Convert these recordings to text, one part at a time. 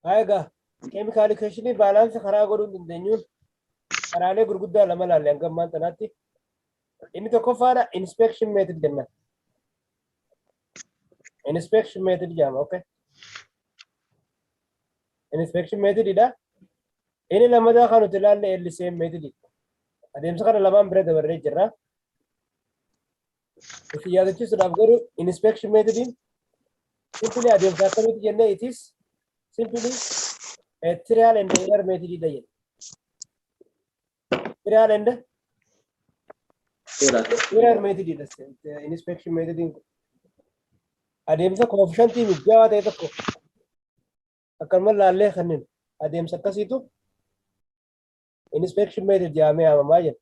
Haa egaa keemikaal ikeeshinii baalaansa karaa godhuu hin dandeenyuun karaalee gurguddaa lama ilaalle hanga ammaan tanaatti. Inni tokkoffaadha inspection method jenna. Inspection method jedhama okay. Inspection method dha. Inni lammataa kan nuti ilaalle LCM method. Adeemsa kana lamaan bira dabarree jirra. Isin yaadachiisuudhaaf garuu inspection metodiin simply adeemsa akkamitti jennee it is simply a trial and error method dha jenna. Trial and error method dha inspection metodiin kun. Adeemsa koofishantii mijaawaa ta'e tokko akkanuma laallee kanneen adeemsa akkasiitu inspection method jedhamee waamamaa jenna.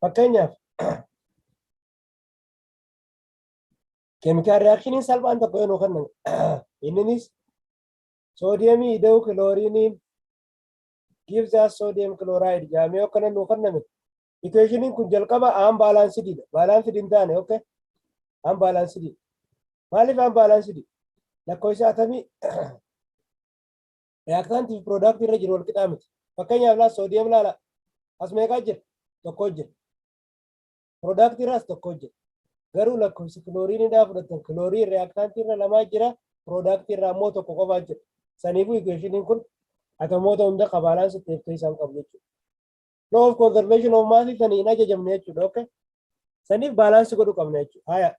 Fakkeenyaaf keemikaal riyaakshiniin salphaan tokko yoo nu kennamu inninis soodiyemii ida'uu kilooriinii gives us sodium chloride jedhamee yoo akkana nu kenname Ikuweeshiniin kun jalqaba aan baalaansidiidha. Baalaansidi hin taane ok. Aan baalaansidii. Maaliif aan baalaansidii? Lakkoofsa atamii reyaaktaantii fi piroodaaktii irra jiru wal qixaa miti. Fakkeenyaaf laala soodiyem laala. As meeqaa jira? Tokkoo jira. Piroodaaktii irraas tokkoo jira. Garuu lakkoofsi kilooriinii dhaa fudhatan kilooriin reyaaktaantii irra lamaa jira. Piroodaaktii irraa immoo tokko qofaa jira. Saniifuu ikuweeshiniin kun atomoota hunda qabaalaan sitteef keessaa hin qabu jechuudha. law of conservation of mass sani hin ajajamne jechuudha okay saniif baalaansi godhu qabna jechuudha haya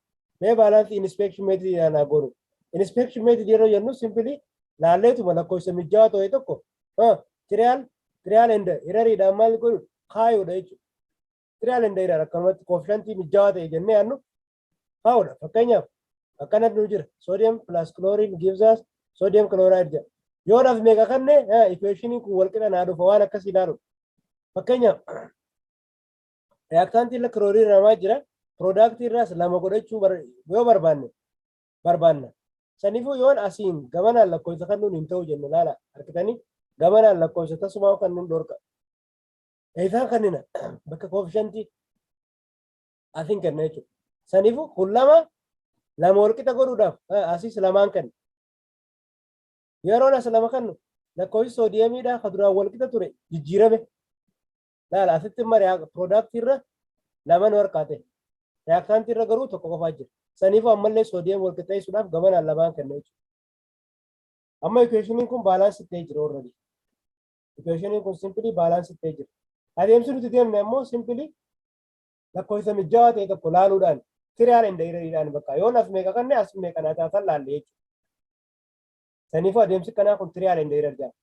mee baalaansi inspection method ilaalaa godhu inspection method yeroo jennu simply laalleetuma lakkoofsa mijjaa ta'e tokko trial trial and error dhaan maal godhu kaayuudha jechuudha trial and error akkanumatti koofishantii mijjaa ta'e jennee yaannu Faawudha. Fakkeenyaaf akkana nu jira. Sodium plus chlorine gives us sodium chloride jedha. Yoo naf meeqa kanne equationin kun walqixa naa dhufa waan akkas ilaalu. Fakkeenyaaf reactant irra chlorine namaa jira. Product irraas lama godhachuu yoo barbaanne barbaanna. Sanifuu yoon asiin gamanaan lakkoofsa kannuun hin ta'u jenne laala argitanii gamanaan lakkoofsa tasumaa kannuun dhorka. Eeysaan kannina bakka koofishantii asiin kenna jechuudha. Saniifuu kun lama lama walqixa godhuudhaaf asiis lamaan kenna. Yeroon as lama kennu lakkoofsi soodiyamiidhaa kan duraan walqixa ture jijjiirame. Laala asitti immoo piroodaaktii irra lama nu harkaate. Reaaktaantii irra garuu tokko qofaa jira. Saniifuu ammallee soodiyam walqixxeessuudhaaf gamanaan lamaan kenna jechuudha. Amma ikuweeshiniin kun baalaansii ta'ee jira warra Ikuweeshiniin kun simpilii baalaansii ta'ee jira. Adeemsi nuti deemne ammoo simpilii lakkoofsa mijjawaa ta'e tokko laaluudhaan tiriyaal inda irariidhaan bakka yoon as meeqa kanne as meeqa naa taatan laalle jechuudha. Saniifuu adeemsi kanaa kun tiriyaal inda irar jedhama.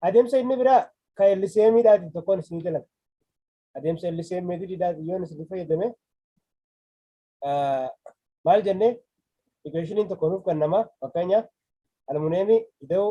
Adeemsa inni biraa kan LCMidhaatiin tokkoon isinii dalagna. Adeemsa LCM meetodiidhaatiin yoon isin fayyadame maal jennee equationin tokko nuuf kennama fakkeenyaaf almuneemii ida'uu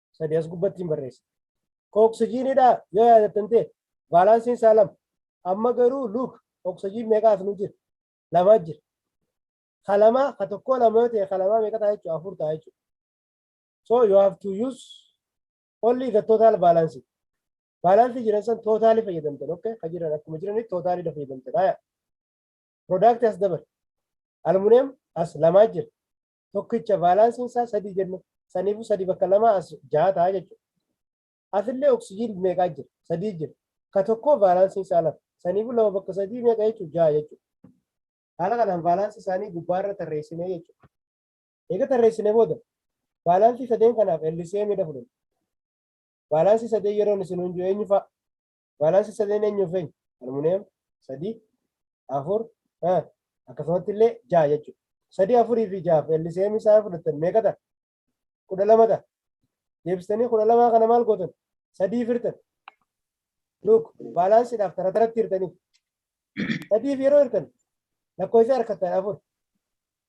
sadii as gubbatti hin barreessa. Ka oksijiinidhaa yoo yaadattan ta'e baalaansiin isaa lama. Amma garuu luuk oksijiin meeqaa as nu jira? Lamaa jira. Ka lamaa ka tokkoo lama yoo ta'e ka lamaa meeqa ta'a jechuudha? Afur ta'a jechuudha. So you have to use only the total balance. Balance jiran san tootaalii fayyadamtan okay? Ka jiran akkuma jiranitti tootaaliidha fayyadamtan. Haya. Product as dabal. Aluminium as lamaa jira. tokkicha vaalaansiin isaa sadii jenna. Saniifuu sadii bakka lamaa as jaha ta'a jechuudha. Asillee oksijiin meeqaa jira? Sadii jira. Ka tokkoo vaalaansiin isaa lama. Saniifuu lama bakka sadii meeqa jechuudha? Jaha jechuudha. Haala kanaan vaalaansii isaanii gubbaarra tarreessinee jechuudha. Eega tarreessine booda vaalaansii sadeen kanaaf LCM dha fudhanna. Vaalaansii sadeen yeroon isin hundu eenyu fa'a? Baalaansi sadeen eenyuuf eenyu? Almuuniyam sadii, afur, eh, akkasumatti illee ja'a jechuudha. Sadii afurii fi ja'aaf LCM isaa fudhattan meeqa ta'a? Kudha lama ta'a. Deebistanii kudha lamaa kana maal gootan? Sadii firtan. Luuk baalaansiidhaaf tara taratti hirtanii. Sadiif yeroo hirtan lakkoofsa harkattan afur.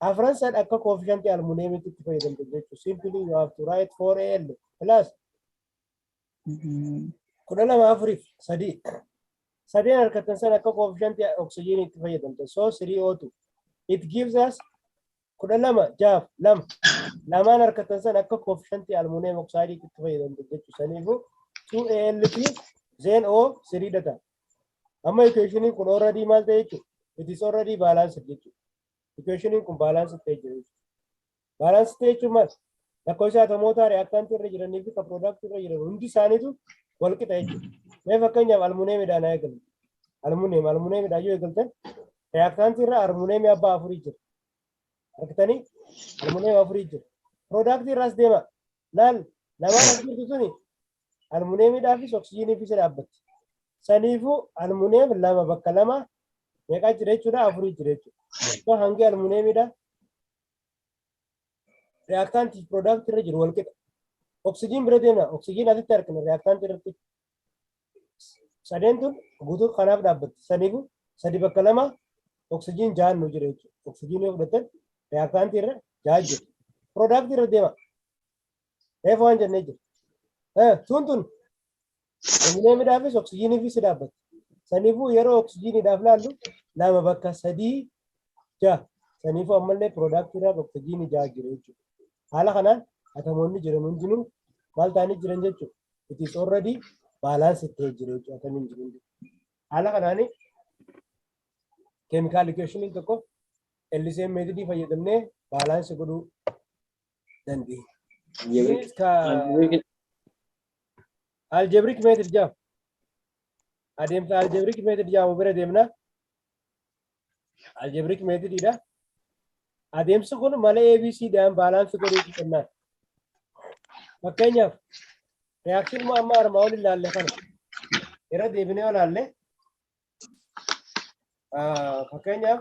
Afran san akka koofishantii almuuniyamitti itti fayyadamtu jechuudha. Simply you have to write 4AL plus kudha lama afuriif sadii sadeen harkattan san akka koofishantii oksijiinii itti fayyadamtan soo sirii ootu it gives us kudha lama jaaf lama lamaan harkattan san akka koofishantii almuuniyeem oksaayidii itti fayyadamtan jechuu saniifu 2ALP zeen O sirii data amma ikuweeshiniin kun already maal ta'e jechuudha it is already balanced jechuudha ikuweeshiniin kun balanced ta'e jira jechuudha Balance state jechuun maal? Lakkoofsa atomootaa reaktaantii irra jiranii fi kan piroodaaktii irra jiran hundi isaaniitu wal qixa jechuudha. Mee fakkeenyaaf almuneemidhaan haa eegalu. Almuneem almuneemidhaan yoo eegaltan reaktaantii irra almuneemii abbaa afurii jira. Argitanii almuneem afurii jira. Piroodaaktii irraas deema. Laal lamaan as jirtu suni almuneemidhaa fi oksijiinii fi isa dhaabbatti. Saniifuu almuneem lama bakka lama meeqaa jira jechuudha afurii jira jechuudha. Hangi almuneemidhaa reactant fi product irra jiru wal qixa. Oxygen bira deemna. Oxygen asitti argina reactant irratti. Sadeen tun guutuu kanaaf dhaabbatti. Saniifu sadi bakka lama oxygen jahan nu jira jechuudha. Oxygen yoo fudhatan reactant irra jaha jiru. Product irra deema. Reefu waan jennee jira. Eh, Tuun tun aluminiyeemiidhaafis oksijiiniifis ni dhaabbatti. Saniifuu yeroo oksijiiniidhaaf laallu lama bakka sadii ja'a. Saniifuu ammallee piroodaaktiidhaaf oksijiinii ja'a jira jechuudha. Haala kanaan atamoonni jiran hundinuu maal ta'anii jiran jechuudha. It is already balanced ta'ee jira jechuudha atamiin jiru hundi. Haala kanaan keemikaal ikeeshiniin tokko LCM meetodii fayyadamnee baalaansii godhuu dandeenya. Algebraic- Ka algebraic- algebraic method jedhamu. Adeemsa algebraic method jedhamu bira deemna. Algebraic method dha. Adeemsi kun mala ABC dhaan baalaansi godhee kennaan. Fakkeenyaaf reaction moo amma armaa ol ilaalle kana irra deebinee olaalle. Fakkeenyaaf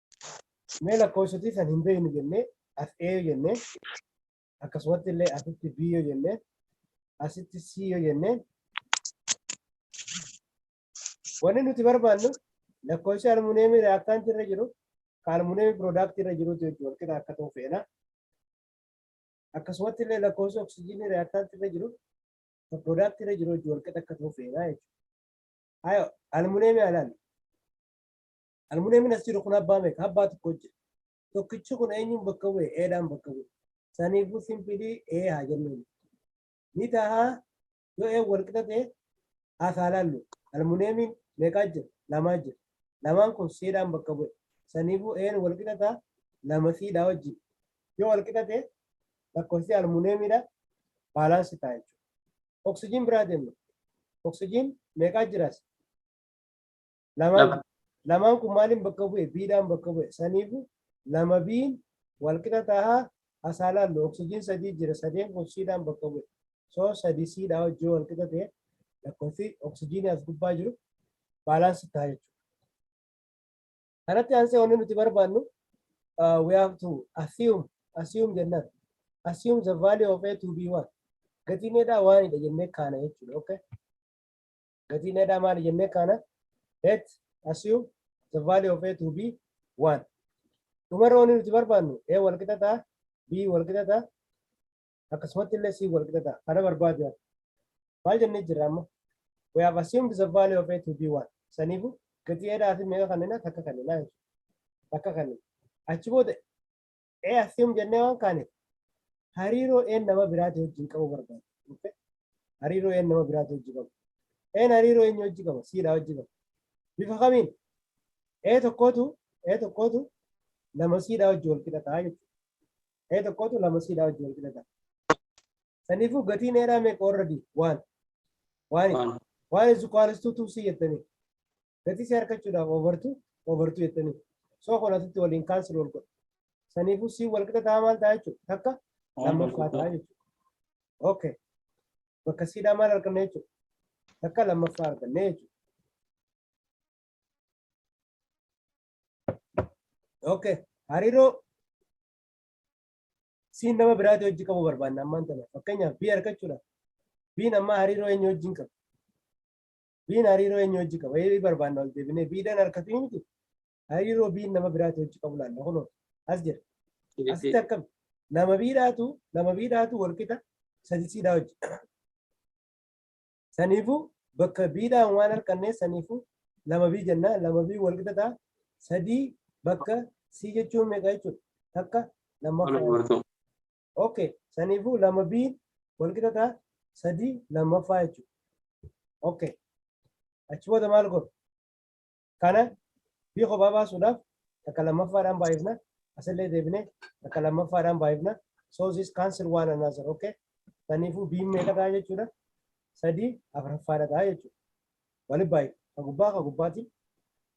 Mee lakkoofsotii san hin beeknu jennee as A yoo jennee akkasumatti illee asitti B yoo jennee asitti C yoo jennee wanni nuti barbaannu lakkoofsi almuneemii reaktaantii irra jiru kan almuneemii piroodaaktii irra jiruutu jechuudha walqixa akka ta'u feena. Akkasumatti illee lakkoofsi oksijiinii reaktaantii irra jiru kan piroodaaktii irra jiru jechuudha walqixa akka ta'u feena jechuudha. Hayo almuneemii alaan Almuneemiin as jiru kun abbaa meeqa? Abbaa tokko jira. Tokkichi kun eenyuun bakka bu'e? Eedhaan bakka bu'e. Saniifuu simpilii ee haa jennuun. Ni tahaa yoo ee wal qixa ta'e haa kaa laallu. Almuneemiin meeqaa jira? Lamaa jira. Lamaan kun siidhaan bakka bu'e. Saniifuu een wal qixa ta'a lama siidhaa wajjin. Yoo wal qixa ta'e lakkoofsi almuneemiidha baalaansi ta'a jechuudha. Oksijiin biraa deemna. Oksijiin meeqaa jiraas? Lamaan Lama. lamaan kun maaliin bakka bu'e? Biidhaan bakka bu'e. Saniifu lama biin wal qixa tahaa asaa laallu oksijiin sadii jira sadeen kun siidhaan bakka bu'e. So sadii siidhaa wajjin wal qixa ta'e lakkoofsi oksijiinii as gubbaa jiru baalaansi ta'a jechuudha. Kanatti aansee wanni nuti barbaannu uh, we have to assume assume jennaan assume the value of A to B1 gatiin eedhaa waanidha jennee kaana jechuudha. Okay? gatiin edhaa maali jennee kaana let assume the value of a to b 1 dhumarra wanni nuti barbaannu a wal qixa ta'a b wal qixa ta'a akkasumatti illee c wal qixa ta'a kana barbaadu yaada maal jennee jirra amma we have assumed the value of a to b 1 saniifu gatii edhaa fi meeqa kannina takka kannina jechuudha takka kannina achi booda Ee assume jennee waan kaane hariiroo een nama biraati wajjin qabu barbaada. Okay? Hariiroo een nama biraati wajjin qabu. Een hariiroo eenyu wajjin qaba? Siidha wajjin qaba. Bifa kamiin? Ee tokkootu ee tokkootu lama siidha wajjin wal qixa ta'a jechuudha. Ee tokkootu lama siidha wajjin wal qixa ta'a. Saniifuu gatiin eeraa meeqa warra di? Waan. Waani. Waan. Waan is equals to 2C jettanii. gatii si harkachuudhaaf obartu obartu jettanii soo kolatutti waliin kaansili wal godha saniifuu si wal qixa ta'a maal ta'a jechuudha takka lammaffaa ta'a jechuudha okay bakka siidhaa maal arganna jechuudha takka lammaffaa arganna jechuudha okay hariiroo siin nama biraatii hojii qabu barbaanna ammaan tana fakkeenyaaf bii argachuudhaaf biin ammaa hariiroo eenyu wajjin qabu Biin hariiroo eenyu hojii qaba? Eebii barbaanna ol deebinee biidhaan harkatu hin jiru. Hariiroo biin nama biraatu hojii qabu laalla kunoo as jira. Asitti akkam nama biidhaatu nama biidhaatu wal qixa sadisiidhaa hojii. Saniifuu bakka biidhaan waan harkannee saniifuu lama bii jennaa lama bii wal qixa ta'a sadii bakka sii jechuun meeqa jechuudha takka lammaffaa. ok saniifuu lama b wal qixa ta'a sadii lammaffaa jechuudha ok achi booda maal godhu kana b kophaa baasuudhaaf takka lammaffaadhaan baay'ifna asillee deebine takka lammaffaadhaan baay'ifna so this cancel one another ok saniifuu b meeqa ta'a jechuudha sadii afuraffaadha ta'a jechuudha waliin baay'ifna ka gubbaa ka gubbaatiin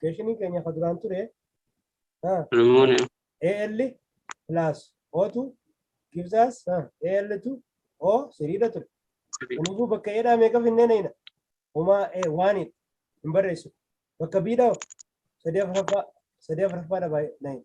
Keeshiniin keenya kan duraan ture ah, Rumuun AL plus O2 gives us ah, AL2 O siriidha ture. Kanaafuu bakka eedhaa meeqa finnee nayina? Homaa ee waaniin hin barreessu. Bakka biidhaa sadii afuraffaa sadii afuraffaa dhabaa nayina.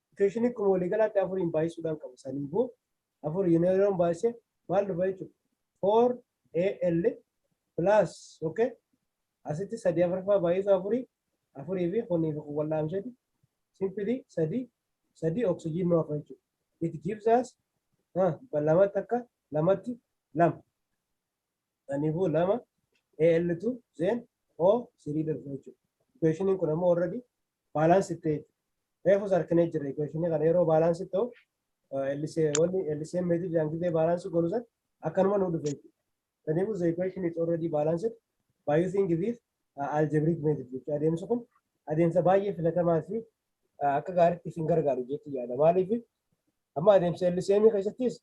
Ikuweeshinii akkuma waliigalaatti afuriin baay'isuudhaan qaba. Saniifuu afur yeroon baay'ise maal dhufa jechuudha? 4AL plus okay? asitti sadii afurfaa baay'isuu afurii afurii fi kunii fi kun wal dhaamsheeti simpilii sadii sadii oksijiin nu hafa jechuudha. It gives us lamatti akka lamatti lama. Kanaafuu lama AL2 Zen O sirii dhufu jechuudha. Equationin kun ammoo already balance ta'e jechuudha. Reefus harkinee jirra equationii kana yeroo balance ta'u wanni LCM meetrii dhaan gidee balance godhu san akkanuma nu dhufe jechuudha. Kanaafuu the equation is already balanced by using this uh, algebraic method jechuudha. Adeemsi kun adeemsa baay'ee filatamaa fi akka gaariitti isin gargaaru jechuudha. Maaliif amma adeemsa LCM keessattis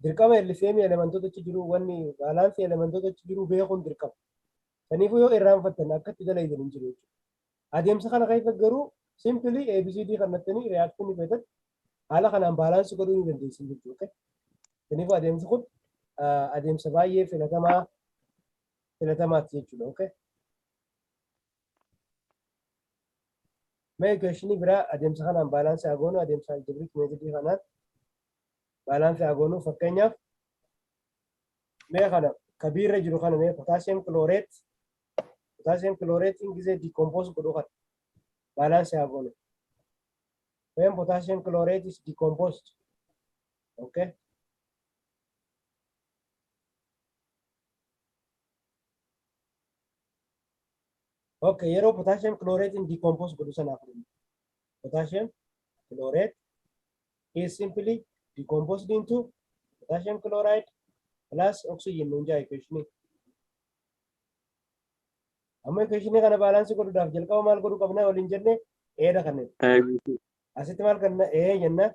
Dirqama LCM elementoota achi jiru wanni baalaansi elementoota achi jiru beekuun dirqama. Saniifuu yoo irraanfattan akka itti dalaydan hin jiru jechuudha. Adeemsa kana keessa garuu simpili ABCD kannattanii reaction feetan haala kanaan baalaansi godhuu ni dandeessin jechuudha. Saniifuu adeemsi kun adeemsa baay'ee filatamaa filatamaati jechuudha. Okay? Mee equationii biraa adeemsa kanaan baalaansi haa goonu adeemsa algebraic meetodii kanaan Balance haa goonu fakkeenyaaf mee kana ka B irra jiru kana mee potassium chlorate potassium chlorate in gisee decompose godhu kana balance haa goonu. When potassium chlorate is decomposed okay Ok, yeroo potassium chlorate in decompose godhu sanaaf dhimma. Potassium chlorate He is simply decomposed into potassium chloride plus oxygen nuun jaa equation. Amma equation kana baalaansii godhuudhaaf jalqaba maal godhuu qabna waliin jenne eedha kanneen. Asitti maal kanna ee jenna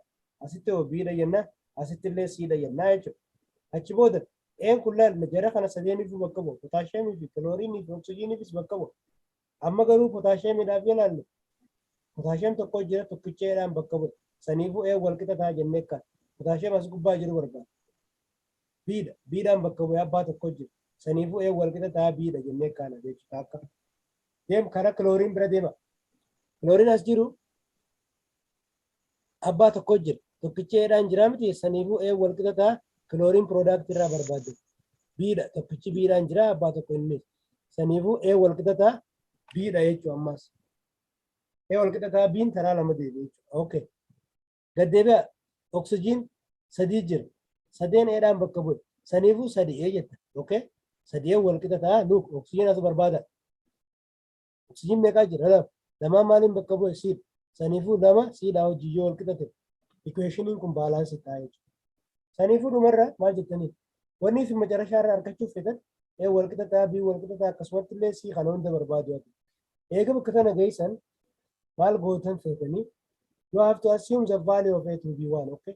asitti hoo biidha jenna asitti illee siidha jenna jechuudha. Achi booda een kun laal jara kana sadeeniifuu bakka bu'a potaashiyeemii fi kilooriinii fi oksijiiniifis bakka bu'a. Amma garuu potaasheemiidhaaf yoo ilaallu potaasheem tokko jira tokkicha eedhaan bakka bu'e. Saniifuu ee wal qixa ta'a jennee kan potaasheem as gubbaa jiru barbaada. Biidha. Biidhaan bakka bu'e abbaa tokko jira. Saniifuu ee wal qixa ta'a biidha jennee kaana jechuudha akka. Deem karaa kilooriin bira deema. Kilooriin as jiru abbaa tokko jira tokkichi eedhaan jiraa miti saniifuu ee wal qixa ta'a kilooriin piroodaaktii irraa barbaadde biidha tokkichi biidhaan jiraa abbaa tokko inni saniifuu ee wal qixa ta'a biidha jechuu ammaas ee wal qixa ta'a biin taraa lama deebi jechuu okay gaddeebi'a oksijiin sadii jira sadeen eedhaan bakka bu'e saniifuu sadii ee jetta okay sadii ee wal qixa ta'a luuk oksijiin asu barbaada Oksijiin meeqaa jira? Lama. Lamaan maaliin bakka bu'e? Siidha. Saniifuu lama siidhaa hojii yoo wal qixa ta'e ikuweeshiniin kun baalaansii ta'a jechuudha. Saniifuu dhumarra maal jettaniif? Wanni isin macarashaa irraa argachuuf feetan ee wal qixa ta'a, bii wal qixa ta'a akkasumatti illee sii kana hunda barbaadu ati. Eega bakka tana geessan maal gootan feetanii you have to assume the value of a to be one okay?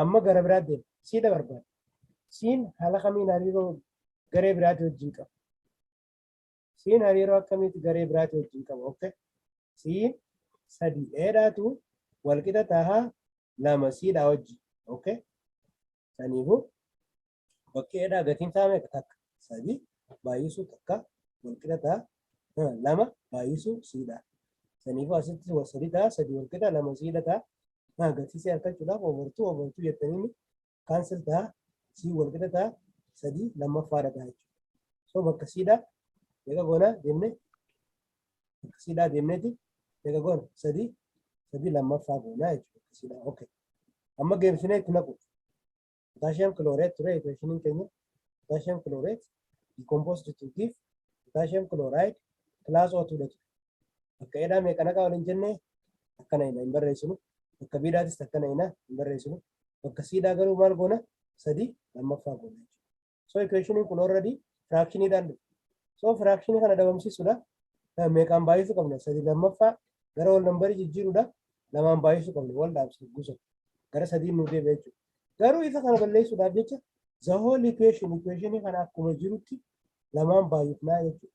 Amma gara biraa deema. Siidha barbaada. Siin haala kamiin hariiroo garee biraatii wajjin qaba? Siin hariiroo akkamiiti garee biraatii wajjin qaba? Okay. Siin sadii dheedhaatu walqixa tahaa lama siidhaa wajjin. Okay. Saniifuu Bakkee eedhaa gatiin isaa meeqa takka? Sadii baay'isuu takka walqixa ta'a. Lama baay'isuu siidha. Saniifuu asitti sadii ta'a sadii walqixa lama siidha ta'a. Gatii isaa argachuudhaaf obartuu obartuu jettanii kaansel ta'a sii walqixa ta'a sadii lammaffaadha ta'a jechuudha. So bakka siidha meeqa goona jenne bakka siidha deemneeti meeqa goona sadii sadii lammaffaa goona jechuudha bakka siidha. Okay. Amma geemsinee itti naqu. potassium chlorate ture equationin keenya potassium chlorate decomposed to give potassium chloride plus O2 dha ture. Bakka edhaa meeqa naqa waliin jenne akkana hina hin barreessinu. Bakka biidhaatis akkana hina hin barreessinu. Bakka siidhaa garuu maal goona? Sadii lammaffaa goona jechuudha. So equationiin kun already firaakshiniidhaan dhufe. So firaakshinii kana dhabamsiisuudha. Meeqaan baay'isuu qabna? Sadii lammaffaa gara wal nambarii jijjiiruudha. Lamaan baay'isuu qabna. Wal dhaabsee gusa. Gara sadii nu deebi'a jechuudha. Garuu isa kana balleessuudhaaf jecha the whole equation equationii kana akkuma jirutti lamaan baay'ifnaa jechuudha.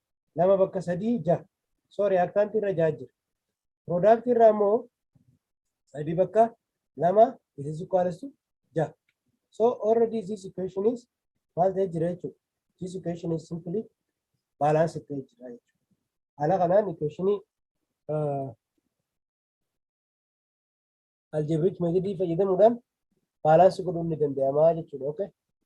2 bakka 3 6 sorry akkaanti irra 6 jira product irraa immoo 3 bakka 2 this is equals to 6 so already this equation is maal ta'ee jira jechuudha this equation is simply balance ta'ee jira jechuudha haala kanaan equation uh, algebraic method fayyadamuudhaan balance godhuun ni danda'ama jechuudha okay